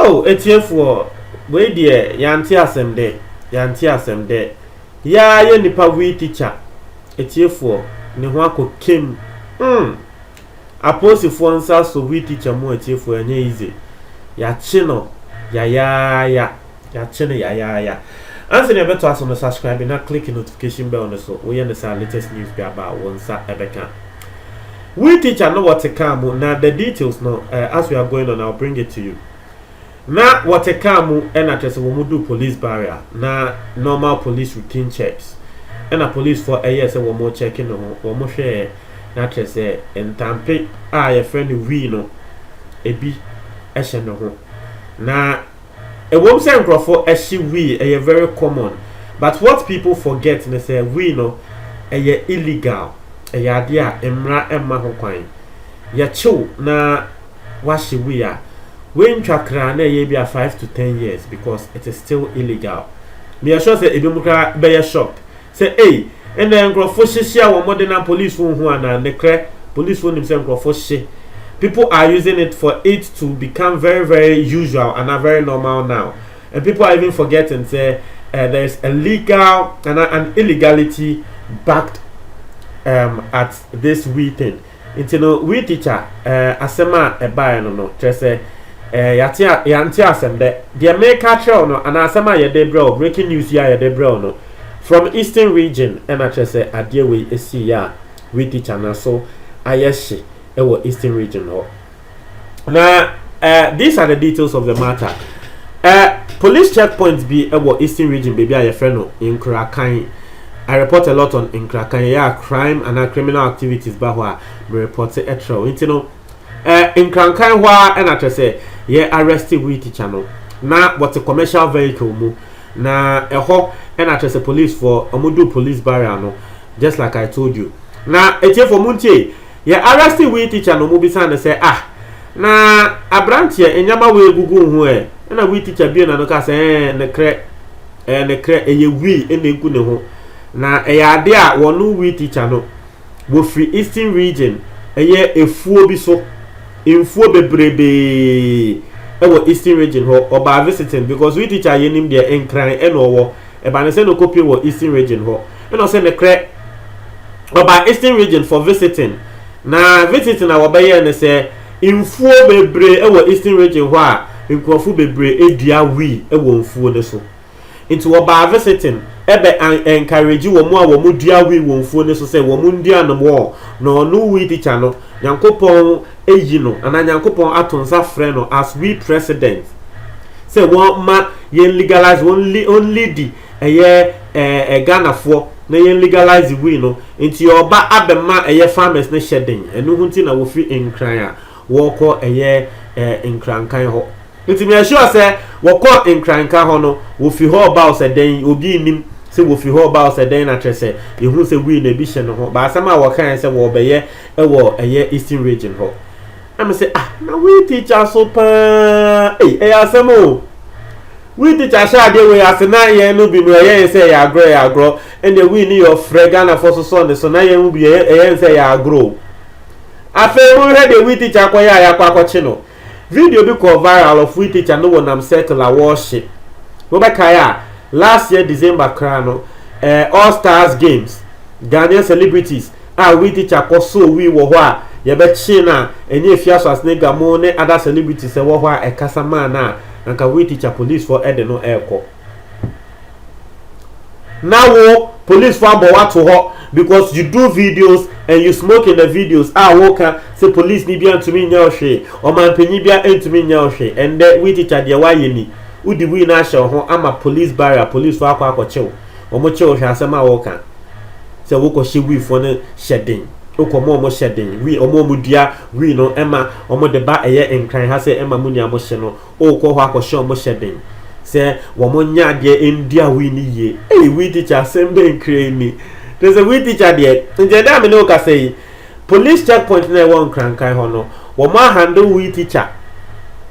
Oh, atiefoɔ wei deɛ yɛante asɛm dɛ yɛante asɛm dɛ yɛa yɛ nipa vui tikya atiefoɔ ne ho akɔ kem mm. Apolisifoɔ nsa so we teacher mu atiefoɔ ɛnyɛ easy yakye no yayaaya yakye no yayaaya ansa na yɛbɛtoa so no subscribe na click notification bell no so woyɛ no saa latest news bi aba a wo nsa ɛbɛka we teacher no wɔte car mu na the details no eh, as we are going on I'll bring it to you. Na wɔte car mu na kyerɛ sɛ wɔn duu police barrier na normal police routine checks na police foɔ yɛɛ sɛ wɔn rekyɛke ne ho wɔn hwɛɛ na kyerɛ sɛ ntampe a yɛfrɛ no wii no ebi hyɛ ne ho na ɛwom sɛ nkurɔfo hye wii ɛyɛ very common but what people forget ne sɛ wii no ɛyɛ illegal ɛyɛ adeɛ a mmara mma ho kwan yɛkyew na wɔahye wei a, wei ntwa kra na ɛyɛ ebia five to ten years because it is still illegal. Meyɛ sure sɛ ebinom koraa bɛyɛ shocked sɛ ei, ɛnna nkurɔfo hye hyia wɔn de na polisifo nhu anaa? Nokorɛ, polisifo nim sɛ nkurɔfo hye. People are using it for it to become very very usual anaa very normal now. And people are even forgetting sɛ uh, there is a legal and an illegality backed um, at this we thing. Nti no, we teacher, eh, asɛm a ɛbaeɛ no no, kyerɛ sɛ, eh, yɛate a, yɛante asɛm dɛ. Deɛ mereka akyerɛ wo no, anaa asɛm a yɛde brɛ wo, breaking news yi a yɛde brɛ wo no, from eastern region ɛna kyerɛ sɛ adeɛ wei ɛsiiɛ a, we teacher n'aso ayɛ hye ɛwɔ eastern region hɔ. na uh, these are the details of the matter uh, police checkpoint bi wɔ eastern region baabi a yɛfrɛ no nkurakan I report a lot on nkrakan ɛyɛ a crime and criminal activities ba hɔ a me report ɛtrɛ o nti no ɛɛ eh, nkrankan hɔ a ɛna kyerɛ sɛ yɛ arrest wei teacher no na wɔte commercial vehicle mu na ɛhɔ ɛna kyerɛ sɛ police foɔ wɔn do police barrier no just like I told you na etiefo mu ntie. Yɛ arrest wii teacher no mobisaa no sɛ ah na abranteɛ nneɛma wei egugu wo ho ɛ ɛna wii teacher bue n'ano kaa sɛ ɛɛ nekrɛ ɛɛ nekrɛ ɛyɛ wii ɛna egu ne ho na ɛyɛ adeɛ a wɔno wii teacher no wɔfiri eastern region ɛyɛ efuo bi so mfuo bebrebee ɛwɔ eastern region hɔ ɔbaa visiting because wii teacher yɛnim deɛ nkran ɛna ɔwɔ Ɛba no sɛ na ɔkɔ pue wɔ Eastern Region hɔ na ɔsɛ ne krɛ ɔbaa Eastern Region for visiting na visiting a wɔbɛyɛɛ no sɛ nfuo bebree wɔ Eastern Region hɔ a nkurɔfo bebree dua wii wɔ nfuo no so nti wɔbaa visiting ɛbɛ encourage wɔn a wɔn dua wii wɔ nfuo no so sɛ wɔn ndua nom wɔ na ɔno wii tikya no Nyankopɔn ayi no anaa Nyankopɔn ato nsa frɛ no as we president sɛ wɔma yɛn legalize wɔn li wɔn lidi ɛyɛ ɛɛ eh, eh, Ghanafoɔ na yɛn legalize wii no nti ɔba abɛma ɛyɛ farmers no hyɛ den ɛno ho nti na wɔfiri nkran a wɔrekɔ ɛyɛ ɛɛ eh, nkrankan hɔ Nti meyɛ sure sɛ wɔkɔɔ Nkranka hɔ no wɔfi hɔ baɔ sɛ dɛn obi nnim sɛ wɔfi hɔ baɔ sɛ dɛn na kyerɛ sɛ yɛhu sɛ wii na ebi hyɛ ne ho ba asɛm a wɔkaeɛ sɛ wɔɔbɛyɛ wɔ ɛyɛ Eastern Region hɔ na me sɛ ah na wii teacher so paa ei ɛyɛ asɛm o wii teacher hyɛ adeɛ wei ase na yɛn no bi no ɛyɛ yɛn sɛ ɛyɛ agorɔ ɛyɛ agorɔ ɛnna wii ne yɛ ɔfrɛ Ghanafoɔ so sɔɔ ne so na yɛn mu bi ɛyɛ yɛn sɛ ɛyɛ agorɔ afei mo hwɛ deɛ wii teacher akɔyɛ a yɛakɔ akɔkye no Video bi kɔɔ viral of we teacher no wɔ nam circle a wɔɔhye. Mo bɛ kae a last year December koraa no ɛɛ all stars games Ghanaian celebrities a we teacher kɔ soo we wɔ hɔ a yɛ bɛ kyee no a ɛnyɛ Afiaso Asnega mo ne other celebrities ɛwɔ hɔ a ɛkasa maa no a anka we teacher police foɔ ɛde no ɛɛkɔ na wo police fo abɔ wato hɔ because you do videos and you smoke in the videos a woka sɛ police ni bia ntumi nyɛ ɔhwee ɔmanpanyin bia ntumi nyɛ ɔhwee ɛndɛ we teacher deɛ wayɛ ni wodi wei na ahyɛ ho ama police barrier police fo akɔ akɔkyew wɔn kyew hwɛ asɛm a woka sɛ wokɔ hyɛ wii fo no hyɛ den wokɔ mo wɔn hyɛ den wii wɔn wɔn dua wii no ɛma wɔn de ba ɛyɛ nkran ha sɛ ɛma mo nua mo hyɛ no wokɔ hɔ akɔhyɛ wɔn hyɛ den sɛ wɔn nyɛ adeɛ ndua wii no yie ei wii tikya asɛm bɛn kura ni te sɛ wii tikya deɛ nkyɛn dɛ a me ne wo kasa yi police checkpoint na ɛwɔ nkrankan hɔ no wɔn ahande wii tikya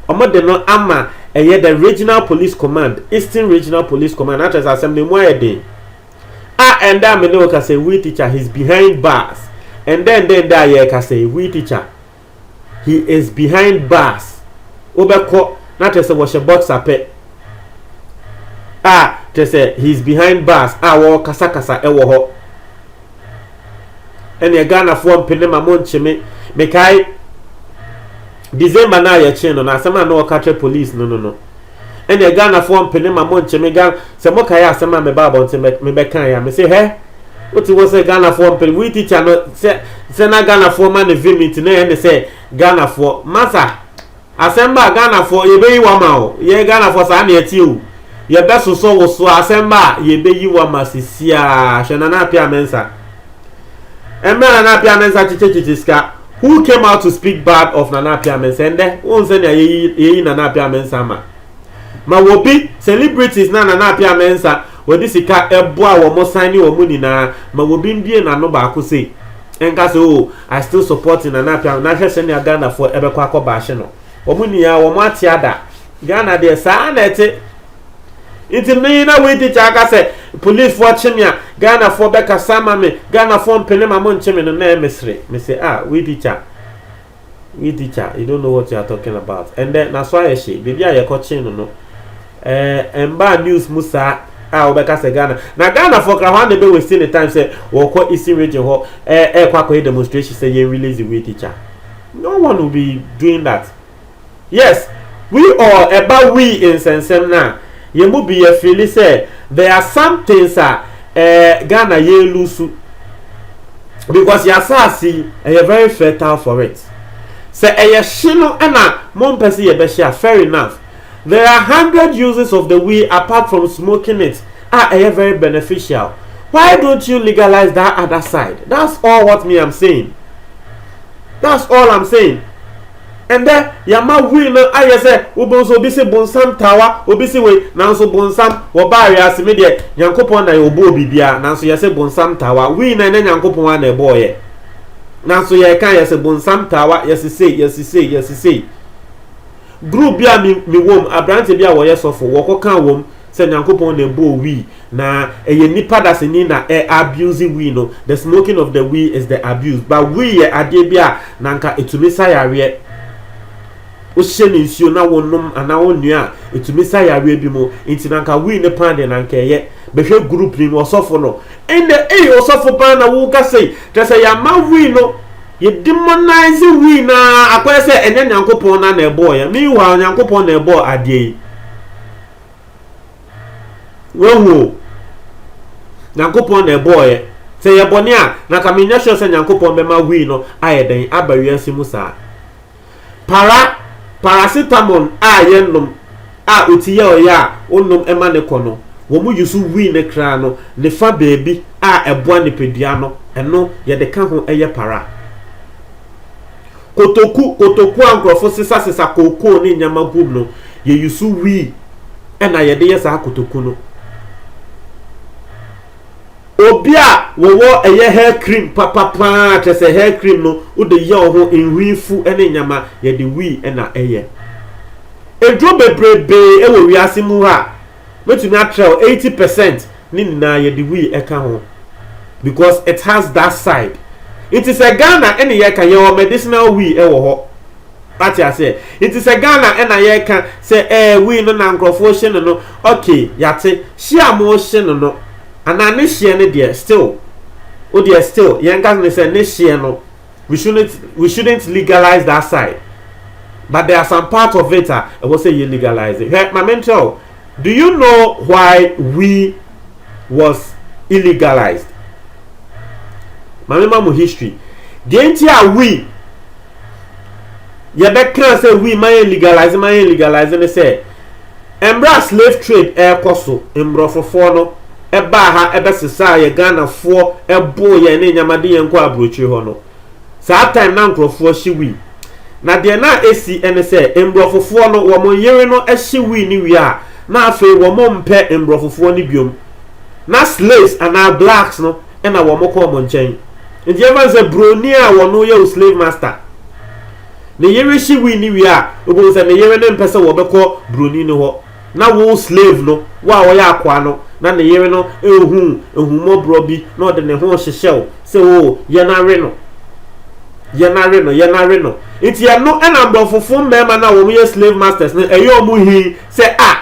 wɔn de no ama ɛyɛ the regional police command eastern regional police command akyerɛ sɛ asɛm no mu ayɛ den a ɛndɛ a me ne wo kasa yi wii tikya his behind bars ɛndɛ ɛndɛ ɛndɛ a yɛrekasa yi wii tikya he is behind bars wobɛkɔ na kyerɛ sɛ wɔhyɛ boxer pɛ a kyerɛ sɛ he is behind bars a wɔrekasakasa wɔ hɔ ɛneɛ ghanafoɔ mpene ma mo nkyeme mekae december no a yɛkyee no na asɛm a na wɔka kyerɛ police no no no ɛnneɛ Ghanafoɔ mpene ma monkye me Ghana sɛ mokaeɛ asɛm a mebaa abɔnten bɛ mebɛkaeɛ a mese hɛ wote hɔ sɛ Ghanafoɔ mpene wei tikya no sɛ sɛ na Ghanafoɔ ma ne vim nti na ɛyɛ ne sɛ Ghanafoɔ masa asɛm ba a Ghanafoɔ yɛbɛyi wama o yɛ Ghanafoɔ saa na ɛteɛ o yɛbɛsosɔ wo so asɛm ba a yɛbɛyi wama sisiaa hwɛ Nana Apia Mensah ɛmɛ a nana apia mɛnsa kyekyekyekyɛ sika who came out to speak bad of nana apia mɛnsa ɛndɛ wɔn sɛ nea yɛyi yɛyi nana apia mɛnsa ama ma wɔbi celebrities na nana apia mɛnsa wɔde sika ɛboa wɔn san ne wɔn nyinaa ma wɔbi mbie n'ano baako sei ɛnka sɛ o oh, i still support nana apia na ahwɛ sɛ nea ghanafoɔ ɛbɛkɔ akɔ baahye no wɔn nyinaa wɔn ate ada ghana deɛ saa na ɛte. Nti me na wei teacher aka sɛ policefoɔ kye me a Ghanafoɔ bɛkasa ama me Ghanafoɔ mpene ma monkye me no na ɛyɛ mesere mese ah wei teacher wei teacher you don't know what you are talking about ɛndɛ naso ayɛ hye baabi a yɛkɔkye no no ɛɛ mbaa news mu saa a wɔbɛka sɛ Ghana na Ghanafoɔ kra hɔ a na ɛbɛ waste ne time sɛ wɔkɔ Eastern region hɔ ɛɛ ɛɛkɔ akɔyɛ demonstration sɛ yɛn release wei teacher no one will be doing that Yes, we all ɛba we nsɛnsɛm no a yɛn mu bi yɛ feeli sɛ there are some things a eh, Ghana yɛn lusu because yɛ asaase yi ɛyɛ very fertile for it sɛ ɛyɛ hye no ɛna mo mpɛ sɛ yɛbɛhyɛ a fair enough there are hundred uses of the we apart from smoking it a ɛyɛ very beneficial why don't you legalize that other side that's all what me am saying that's all i'm saying. Ɛndɛ yɛama wii no ayɛ sɛ wobohu sɛ obi se bonsam tawa obi se wei nanso bonsam wɔbaa wiase me deɛ Nyankopɔn na ɔbɔɔ biribiara nanso yɛse bonsam tawa wii no ɛnyɛ Nyankopɔn ara na ɛbɔɔ yɛ nanso yɛka yɛse bonsam tawa yɛse sei yɛse sei yɛse sei group bi a me wɔm aberanteɛ bi a wɔyɛ sɔfo wɔkɔ ka wɔm sɛ Nyankopɔn na ɛbɔɔ wii na ɛyɛ nipa dasani na ɛ abuse wii no, the smoking of the wii is the abuse. But wii yɛ adeɛ bi a na anka ɛtumi sa yareɛ. Wohyɛ ne nsuo na wonom anaa wonua a, ɛtumi sa yareɛ bi mu. Nti na anka wii ne paa deɛ na anka ɛyɛ. Bɛhwɛ group ni mu ɔsɔfo no. Ɛnɛ, ei ɔsɔfo paa na woka sei. Kyerɛ sɛ yɛama wii no, yɛ demonize wii no ara akɔyɛ sɛ ɛnyɛ Nyankopɔn na na ɛbɔɔ yɛn. Meanwhile, Nyankopɔn na ɛbɔɔ adeɛ yi. wahu o nyankopɔn na ɛbɔɔyɛ sɛ yɛ bɔne a na ka menyɛ sure sɛ nyankopɔn bɛma wii no ayɛ dɛn aba wiase mu saa para paracetamol a yɛnom a oti yɛ ɔyɛ a wonom ɛma ne kɔ no wɔn yi so wii ne kra no ne fa baabi a ɛboa nipadua no ɛno yɛde ka ho ɛyɛ para Kotoku, Kotoku a nkurɔfo sesasesa kookoo ne nneɛma gum no, yeyisu wii na yɛde yɛ saa kotoku no. Obi a wɔwɔ ɛyɛ hair cream papa paa, kyerɛ sɛ hair cream no wode yɛ wo ho nhwi fu ne nneɛma, yɛde wii na ɛyɛ. Aduro bebrebe wɔ wiase mu ha a mɛtumi atrɛw eighty percent ne nyinaa yɛde wii ɛka ho because it has that side nti sɛ Ghana ɛne yɛka yɛwɔ medicinal wii ɛwɔ hɔ ate aseɛ nti sɛ Ghana ɛna yɛka sɛ ɛɛ eh, wii no na nkurɔfoɔ hye no no ok yate hye a mo hye no no anaa ne hyeɛ no deɛ still wodeɛ still yɛnka ne sɛ ne hyeɛ no we shouldn't we shouldn't legalize that side but there are some part of it a ɛwɔ sɛ yɛ legalize hwɛ maame nkyɛw do you know why we was illegalized maame ma mo history deɛ nti a we yɛbɛka sɛ we ma yɛ legalize ma yɛ legalize ne sɛ. Mbrɛ a slave trade rekɔ so, mbrɔfofoɔ no baa ha bɛsesaa yɛ Ghanafoɔ boo yɛn ne nyɛma de yɛn kɔɔ abrokyire hɔ no, saa time na nkorɔfoɔ hye wii. Na deɛ na ɛsi ne sɛ mbrɔfofoɔ no wɔn nyere no hye wii no wie a na afei wɔn mpɛ mbrɔfofoɔ no biom. Na slaves anaa blacks no na wɔn kɔ wɔn nkyɛn. Nti yɛmfa no sɛ broni a wɔn yɛ wo slave master. Ne yere hye wii no wie a, obohu sɛ ne yere no mpɛ sɛ wɔbɛkɔ buroni no hɔ. Na wo slave no, wo a ɔyɛ akoa no, na ne yere no nhu ahummɔborɔ bi na ɔde ne ho hyehyɛ wo sɛ, O, yɛn awe no, yɛn awe no, yɛn awe no. Nti ɛno na mborɔfofo mmarima no a wɔn yɛ slave masters no ɛyɛ wɔn hi sɛ, A,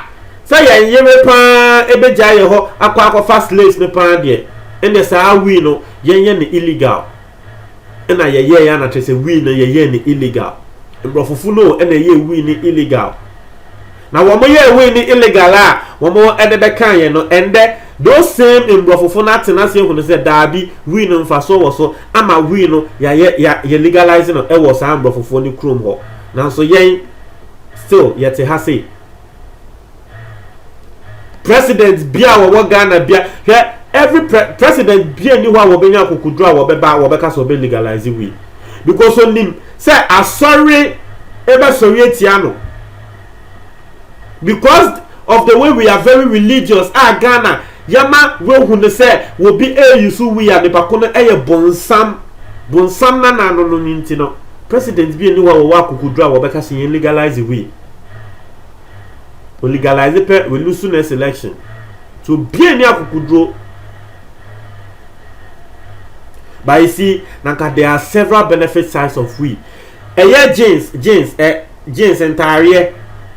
sɛ yɛn yere pa ara bɛgyae yɛn hɔ akɔ akɔfa slaves no pa ara deɛ, ɛnneɛ saa wii no, yɛnyɛ no illegal. ɛna yɛyɛɛ ana kyerɛ sɛ wii no yɛyɛɛ no illegal mborɔfofo no ɛna ɛyɛɛ wii no illegal na wɔn yɛɛ wii no illegal a wɔn ɛde bɛka yɛn no ɛndɛ those same mborɔfofo no atena ase ehunu sɛ daabi wii no mfasoɔ wɔ so ama wii no yɛayɛ yɛ legalize no ɛwɔ saa mborɔfofo no kurom hɔ nanso yɛn still yɛte ha sei president bia a wɔwɔ ghana bia hwɛ every pre president bia ni hɔ a wɔbɛnya akokoduro a wɔbɛba a wɔbɛka sɛ wɔbɛ legalize wei because onim sɛ asɔre ɛbɛsɔre atia no because of the way we are very religious a ghana yɛma wɔhu no sɛ wɔbi ɛyi so wei a nipa ko no ɛyɛ bonsam bonsam na na no no nti no president bia ni hɔ a wɔwɔ akokoduro a wɔbɛka sɛ yɛn legalize wei o legalize pɛ we lose next election so obiara ni akokoduro but you see na nka there are several benefit sides of we ɛyɛ jeans jeans ɛ eh, jeans ntaareɛ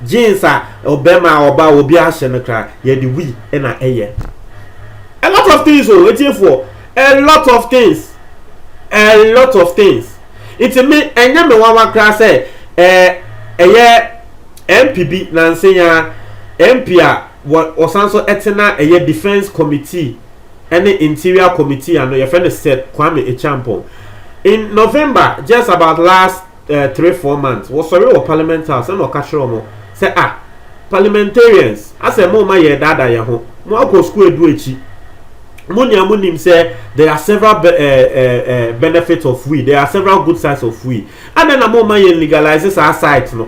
jeans a ɔbɛrima a ɔba obi ahyɛ no kra yɛde we ɛna ɛyɛ a lot of things o oh, etiefoɔ. A lot of things a lot of things nti me ɛnyɛ me nwanwa koraa sɛ ɛɛ ɛyɛ MP bi nanse ya MP a wɔ wɔsan so ɛte na ɛyɛ defence committee ɛne interior committee ano yɛfrɛ no Sir Kwame Acheampong in November just about last eh, three four months wɔsɔre wɔ parliament house ɛna ɔka kyerɛ wɔn sɛ ah parliamentarians asɛ mo ma yɛ daadaa yɛn ho mo akɔ sukuu edu akyi mo nea mo nim sɛ there are several be, eh, eh, eh, benefits of we there are several good sides of we adɛn na mo ma yɛn legalize saa site no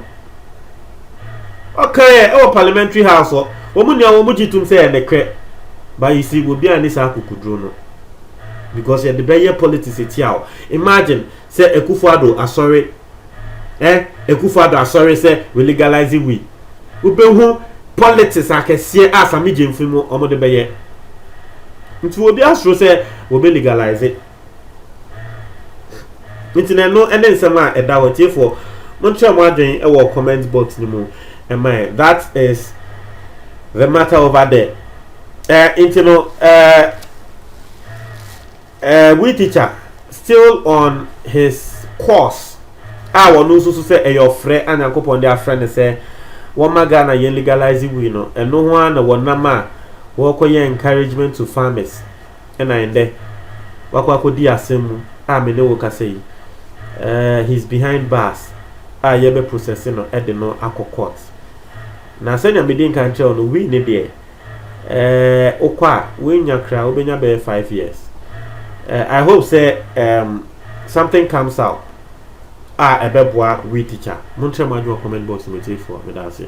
ɔka yɛ ɛwɔ parliamentary house hɔ wɔn nea wɔn gye tum sɛ ɛne kɛ but you see obi a ne saa kukuduro no because yɛde bɛyɛ politics etia o imagine. Sɛ Akufo Addo asɔre eh Akufo Addo asɔre sɛ we legalize weed wobɛhu politics akɛseɛ a Same Gyamfi mu wɔn de bɛyɛ nti obi asoro sɛ wɔbɛ legalize nti na ɛno ɛne nsɛm a ɛda hɔ tiefoɔ monkyerɛ mo adwen ɛwɔ comment box no mu ɛma ɛ that is the matter over there eh nti no eh Eh we teacher still on his course a wɔno nso so sɛ ɛyɛ ɔfrɛ a Nyankopɔn de afrɛ no sɛ wɔma Ghana yɛ legalize wii no ɛno ho a na wɔnam a wɔkɔyɛ encouragement to farmers ɛna ɛndɛ wakɔ akɔdi asɛm mu a me ne wo kasa yi eh, he's behind bars a yɛbɛ process no ɛde no akɔ court na sɛnea medi nka nkyerɛ no wii ne deɛ eh, wokɔ a woanya kra wobɛnya bɛyɛ five years eh, i hope sɛ um, something comes out a ɛbɛboa we teacher monkyerɛ mo adwene wɔ comment box mu atiefoɔ meda ase